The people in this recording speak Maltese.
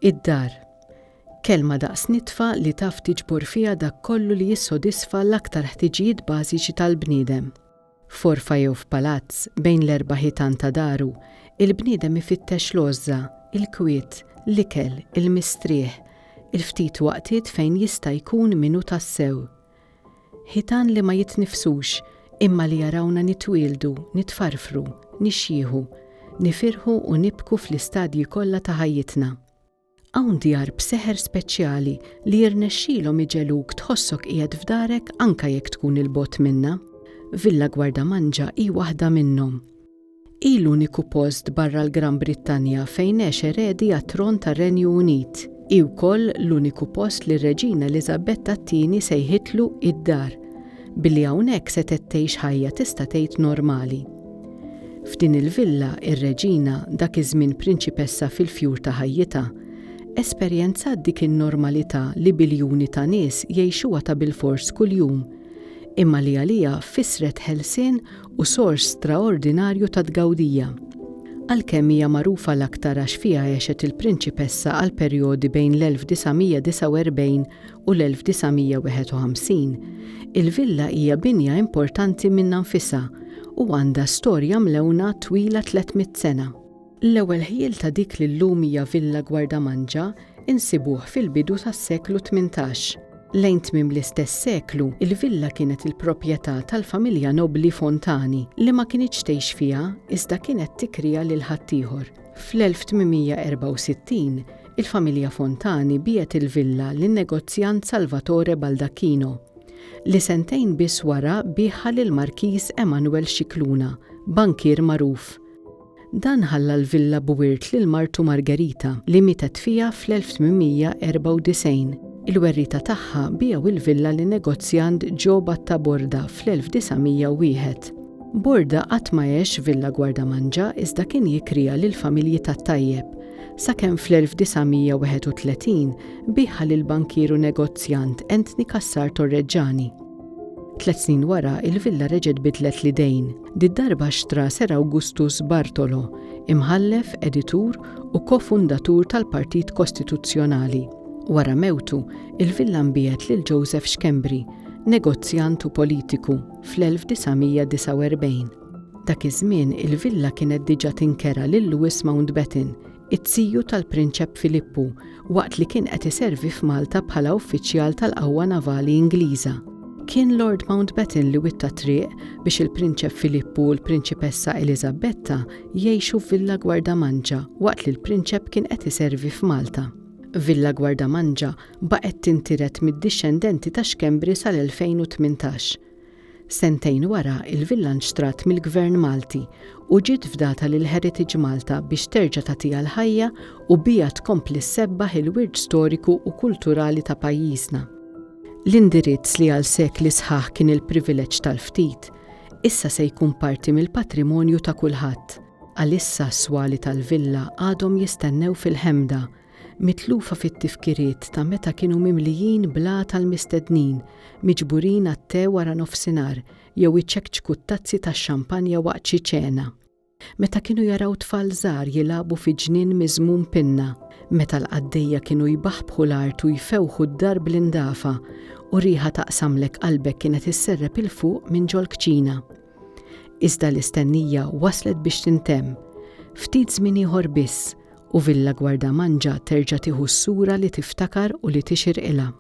Id-dar. Kelma daqs nitfa li taf tiġbor fiha dak kollu li jissodisfa l-aktar ħtiġijiet bażiċi tal-bniedem. F'għorfa jew f'palazz, bejn l-erba' ħitan ta' daru, il-bniedem ifittex l-għożża, il-kwiet, l-ikel, il-mistrieħ, il-ftit waqtiet fejn jista' jkun min hu tassew. Ħitan li ma jitnifsux, imma li jarawna nitwieldu, nitfarfru, nixjieħu, nifirħu u nibku fl-istadji kollha ta' ħajjitna. Hawn djar b'seħer speċjali li jirnexxilhom iġegħluk tħossok qiegħed f'darek anke jekk tkun 'il bogħod minnha. Villa Gwardamanġa hi waħda minnhom. Hi l-uniku post barra l-Gran Brittanja fejn għex eredi għat-tron tar-Renju Unit. Hi wkoll l-uniku post li r-Reġina Eliżabetta t-Tieni sejħitlu id-dar, billi hawnhekk setgħet tgħix ħajja tista' tgħid normali. F'din il-villa, ir-Reġina, dak iż-żmien prinċipessa fil-fjur ta' ħajjitha, esperjenzat dik in-normalità li biljuni ta' nies jgħixuha ta' bilfors kuljum, imma li għaliha fissret ħelsien u sors straordinarju ta' tgawdija. Għalkemm hija magħrufa l-aktar għax fiha għexet il-prinċipessa għal perjodi bejn l-1949 u l-1951, il-villa hija binja importanti minnha nfisha u għandha storja mlewna twila 300 sena. L-ewwel ħjiel ta' dik li llum hija Villa Gwardamanġa insibuh fil-bidu tas-seklu tmintax. Lejn tmiem l-istess seklu, il-villa kienet il-proprjetà tal-familja nobbli Fontani li ma kinitx tgħix fiha iżda kienet tikriha lil ħaddieħor. Fl-1864, il-familja Fontani biegħet il-villa lin-negozjant Salvatore Baldacchino, li sentejn biss wara biegħha lill-Markiż Emanuel Scicluna, bankier magħruf. Dan ħalla l-villa b'wirt lil martu Margherita li mietet fiha fl-1894. Il-werrieta tagħha biegħu l-villa lin-negozjant Joe Batta Borda fl-1901. Borda qatt ma għex f'villa gwardamanġa iżda kien jikrija lill-familji tat-tajjeb, sakemm fl-1931 biegħha lill-bankier u negozjant Anthony Cassar Torregiani. Tliet snin wara, il-villa reġgħet bidlet l-idejn. Did-darba xtra Sir Awgustus Bartolo, imħallef, editur u ko-fundatur tal-Partit Kostituzzjonali. Wara mewtu, il-villa nbiegħet lil Joseph Schembri, negozjant u politiku, fl-1949. Dak iż-żmien, il-villa kienet diġà tinkera lil Lewis Mountbatten, it-tiju tal-Prinċep Filippu, waqt li kien qed iservi f'Malta bħala uffiċjal tal-qawwa navali Ingliża. Kien Lord Mountbatten li witta t-triq biex il-Prinċep Filippu u l-Prinċipessa Eliżabetta jgħixu f'Villa Gwardamanġa waqt li l-Prinċep kien qed iservi f'Malta. Villa Gwardamanġa baqgħet tintiret mid-dixxendenti ta' Schembri sal-2018. Sentejn wara, il-villa nxtrat mill-Gvern Malti u ġiet fdata lil Heritage Malta biex terġa' tagħtiha l-ħajja u biha tkompli ssebbaħ il-wirt storiku u kulturali ta' pajjiżna. L-indirizz li għal sekli sħaħ kien il-privileġġ tal-ftit, issa se jkun parti mill-patrimonju ta' kulħadd. Għalissa s-swali tal-villa għadhom jistennew fil-ħemda mitlufa fit-tifkiriet ta' meta kienu mimlijin bl-għata l-mistednin miġburin għat-te wara nofsinhar jew iċekċku t-tazzi tax-xampanja waqt xi ċena, meta kienu jaraw tfal żgħar jilagħbu fi ġnien miżmum pinna, meta l-qaddejja kienu jbaħbħu l-art u jfewħu d-dar bl-indafa u riħa taqsamlek qalbek kienet isserrep 'il fuq minn ġol-kċina. Iżda l-istennija waslet biex tintemm. Ftit żmien ieħor biss u Villa Guardamangia terġa' tieħu s-sura li tiftakar u li tixirqilha.